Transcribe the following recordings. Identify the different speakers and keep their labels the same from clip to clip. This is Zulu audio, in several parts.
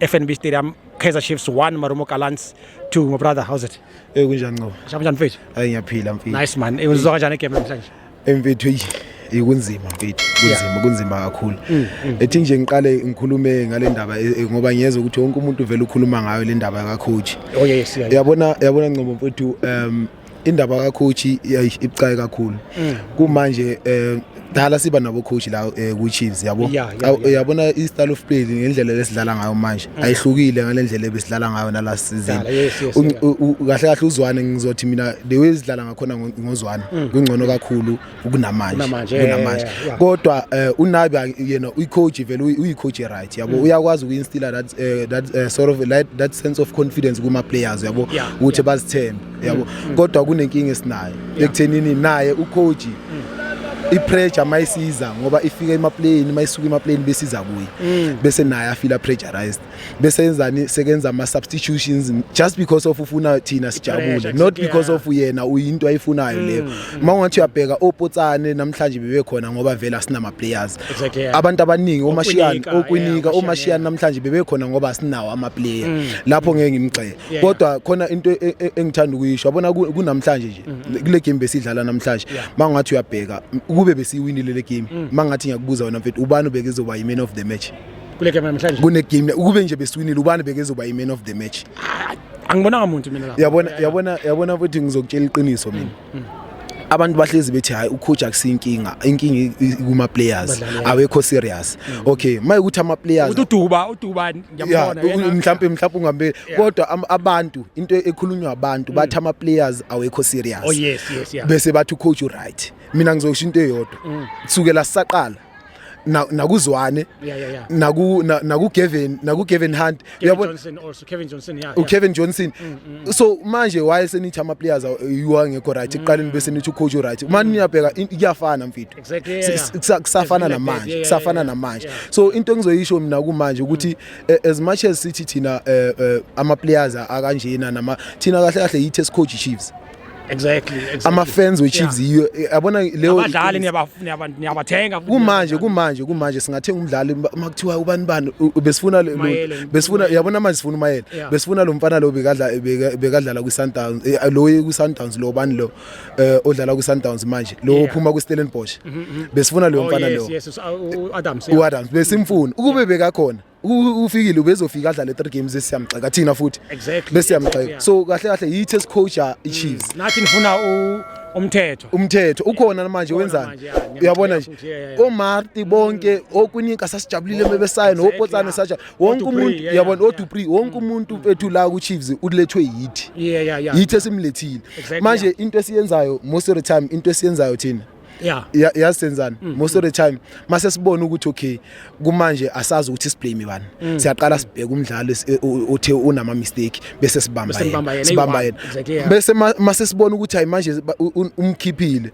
Speaker 1: FNB Stadium Kaizer Chiefs 1 Marumo Gallants 2 my brother how's it Eh kunjani Nqobo? Shaba
Speaker 2: njani mfethu? Hayi
Speaker 1: ngiyaphila mfethu. Nice
Speaker 2: man. Uzwa kanjani
Speaker 1: igame namhlanje? Emfethu
Speaker 2: eyi ikunzima mfethu. Kunzima kunzima kakhulu. Mm, mm. Ethi nje ngiqale ngikhulume ngale ndaba eh, eh, ngoba ngiyezwa ukuthi wonke umuntu vele ukhuluma ngayo le ndaba ka coach. Oh yes. yeah, yeah. Yabona
Speaker 1: yabona Nqobo
Speaker 2: mfethu um indaba kacoach ibucayi kakhulu mm. kumanje eh dala siba nabo coach la eh, ku Chiefs yabo uyabona i style of play ngendlela lesidlala ngayo manje mm. ayihlukile ngalendlela ebesidlala ngayo na last season kahle kahle uzwane ngizothi mina the way sidlala ngakhona ngozwane mm. kungcono kakhulu kunamanje kunamanje kunamanje yeah, yeah. kodwa uh, unabi yena uyi coach vele uyi coach right yabo mm. uyakwazi uku instill that uh, that uh, sort of like, that sense of confidence kuma players yabo ukuthi yeah, yeah. bazithembe yabo mm, mm. kodwa kunenkinga esinayo yeah. ekuthenini naye u coach mm. ipressure mayisiza ngoba ifika emaplayini mayisuka emaplayini besiza kuye mm. bese naye afila pressurized bese yenzani sekenza ama substitutions just because of ufuna thina sijabule not because of yena uyinto ayifunayo leyo mm, mm. uma ungathi uyabheka opotsane namhlanje bebe khona ngoba vele asinama players abantu abaningi omashiyani okwinika omashiyani namhlanje bebe khona ngoba sinawo ama player mm. lapho ngeke ngimgxeke kodwa khona into e, e, engithanda ukuyisho yabona kunamhlanje nje kule game besidlala namhlanje mangathi uyabheka kube besiwinile le game mangathi ngiyakubuza wena mfethu ubani ubeke zoba yi man of the match kule game namhlanje
Speaker 1: kune game ukube nje
Speaker 2: besiwinile ubani bekezoba i man of the match angibonanga
Speaker 1: muntu mina lapha yabona yabona yabona ukuthi
Speaker 2: ngizokutshela iqiniso mina mm, mm. abantu bahlezi bethi hayi ucoach akusinkinga inkinga kuma players awekho serious mm. okay maye ukuthi ama players ududuba uduba
Speaker 1: ngiyabona yena mhlawumbe mhlawumbe
Speaker 2: ungambe kodwa abantu into ekhulunywa abantu bathi ama players awekho serious oh yes yes yeah bese
Speaker 1: bathi ucoach
Speaker 2: right mina ngizosho into eyodwa kusukela saqala na- nakuzwane Yeah, yeah, yeah. naku na- nakugevin nakugevin hunt Kevin uyabona Johnson also.
Speaker 1: Kevin Johnson, yeah. yeah. ukevin johnson Mm, so manje
Speaker 2: waye senithi ama-players aw- yiwa ngekho right ekuqaleni bese nithi ucoach uright uma niyabheka in- kuyafana mfitho Mm. Exactly, yeah, Si- yeah. si- kusa- kusafana It's really like that, namanje yeah, kusafana yeah, yeah. namanje Yeah. Mm. so into engizoyisho mina kumanje ukuthi eh, as much as sithi thina eh, eh, ama-players akanjena nama thina kahle kahle yithi esicoach chiefs Exactly, exactly.
Speaker 1: Ama fans we
Speaker 2: Chiefs yiyo eh, yabona leyo abadlali
Speaker 1: niyabathenga kumanje kumanje
Speaker 2: kumanje singathenga umdlali makuthiwa ubani bani besifuna besifuna yabona manje sifuna umayela besifuna lo mfana lo bekadla bekadlala kwi Sundowns eh, lo kwi Sundowns lo bani lo eh, odlala kwi Sundowns manje lo uphuma kwi Stellenbosch mhm, mhm. besifuna lo oh, mfana lo u Adams u Adams besimfuna ukube bekakhona ufikile ubezofika adlale 3 games esiyamgxeka thina futhi exactly. bese yamgxeka so kahle kahle yithi esicoacha iChiefs mm. nathi nifuna
Speaker 1: umthetho umthetho ukhona manje
Speaker 2: wenzani uyabona nje omarti bonke mm. okuninka sasijabulile bebesayo nopotsane saja wonke umuntu uyabona odupri wonke mm. umuntu bethu la ku Chiefs ulethwe yithi yithi esimlethile manje into esiyenzayo most of the time into esiyenzayo thina yeah ya- yazi senzani most of the time mase sibona ukuthi okay kumanje asazi ukuthi siblame bani siyaqala sibheke umdlali si- u- u- uthe unama mistake bese sibamba Bese nibamba yena, yena sibamba eyi-one. yena Exactly, yeah. bese ma- mase sibona ukuthi hayi manje ba- u- u- umkhiphile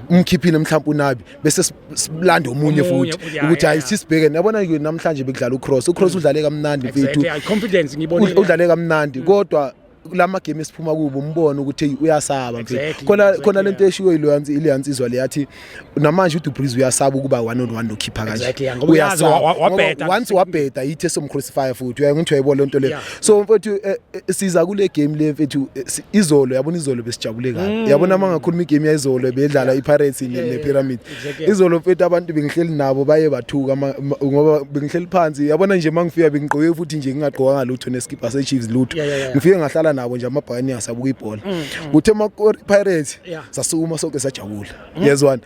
Speaker 2: umkhiphile mhlawumbe unabi bese si- silande omunye Omunye, futhi yeah, ukuthi hayi yeah. sisibheke nabona ke namhlanje bekudlala ucross ucross udlale kamnandi mfethu exactly yeah, confidence ngibonile
Speaker 1: udlale kamnandi
Speaker 2: kodwa kulama game esiphuma kubo umbona ukuthi hey uyasaba mfethu khona khona lento eshiwo ileyansi ileyansi izwa le yathi namanje uDu Breeze uyasaba ukuba one on one nokhipha kanje uyasaba
Speaker 1: wabheda once
Speaker 2: wabheda yithi somcrucify futhi uyangithi uyayibona lento le so mfethu eh, eh, siza kule game le mfethu eh, izolo yabona izolo besijabule kabi mm. yabona mangakhuluma igame yayizolo bedlala iPirates nePyramid izolo mfethu abantu bengihleli nabo baye bathuka ngoba bengihleli phansi yabona nje mangifika bengigqoke futhi nje ngingagqokanga lutho neskipa seChiefs lutho ngifike ngahlala nabo nje amabhakani sabuka ibhola mm, mm. kuthe makori Pirates sasukuma sonke sajabula mm. yezwana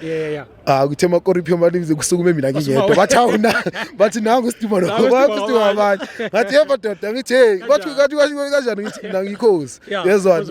Speaker 2: ah kuthe makori Pirates kusukume mina ngingedwa bathi awuna bathi nangu Steve lo bathi Steve abanye ngathi yebo doda ngithi hey bathi kathi kanjani ngithi mina ngikhosi yezwana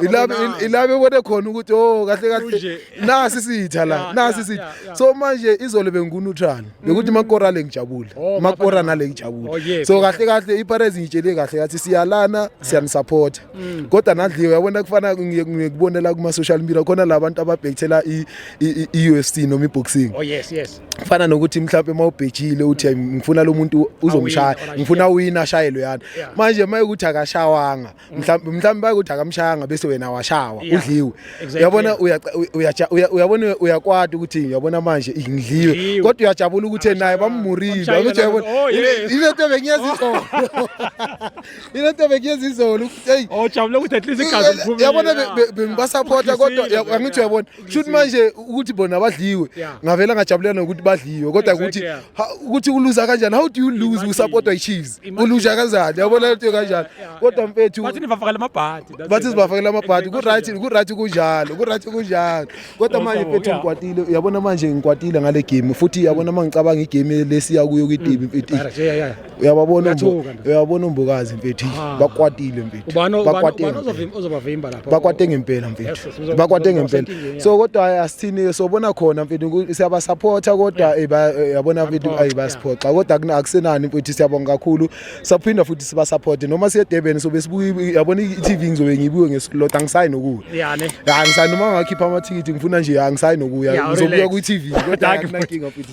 Speaker 2: ilabe ilabe bone khona ukuthi oh kahle kahle nasi sitha la Yeah, nasi yeah, sitha yeah, yeah. so manje izolo benguneutral bekuthi makora le ngijabule Oh, makora Bafana. nale ngijabule Oh, yes. so kahle kahle iPirates ngitshele kahle kathi siyalana siyanisupport Mm. kodwa nadliwe yabona kufana ngiye- ngikubonela kuma social media khona labantu ababhekthela i i- i UFC noma iboxing oh yes yes
Speaker 1: kufana nokuthi mhlawumbe
Speaker 2: uma ubhejile uthi "Ay, ngifuna lo muntu uzomshaya Awina, ngifuna awina ashayelwe yani Yeah. manje uma ukuthi akashawanga mhlawumbe mhlawumbe bakuthi akamshayanga bese wena washawa Yeah. udliwe Exactly. uyabona uya- uyaja- uya- uyabona uyakwata ukuthi uyabona manje ngidliwe Ngidliwe. kodwa uyajabula ukuthi naye bamurile Bamshayile ukuthi uyabona naye, oh, yes. ile nto bengiyenza izolo ile nto bengiyenza izolo hey ojabule ukuthi at least igazi
Speaker 1: liphume yabona be- be-
Speaker 2: bengibasapota kodwa Ngifisile, angithi uyabona shuthi manje ukuthi bona badliwe ngavela ngajabulela nokuthi badliwe kodwa ukuthi ukuthi uluza kanjani how do you lose usupportwa i-chiefs uluza kanjani yabona lento yo kanjani kodwa mfethu bathi nibafakela amabhadi
Speaker 1: bathi sibafakela amabhadi
Speaker 2: ku-right ku-right kunjalo ku-right kunjalo kodwa manje mfethu ngikwatile uyabona manje ngikwatile ngale game futhi yabona uma ngicabanga igame lesiya kuyo kwi-tv mfethu uyababona uyabona umbukazi mfethu ah. bakwatile mfethu
Speaker 1: bakwate ngempela mfethu
Speaker 2: bakwate ngempela so kodwa asithini sobona khona mfethu siyabasupporta kodwa eh, eh, yabona mfethu ayi basiphoxa kodwa akusenani mfethu siyabonga kakhulu saphinda futhi sibasupporte noma siye Durban sobe sibuye yabona i-TV ngizobe ngibuye ngesilot angisayi nokuya yani angisayi noma ngakhipha amathikithi ngifuna nje angisayi nokuya ngizobuya kwi-TV kodwa akunankinga mfethu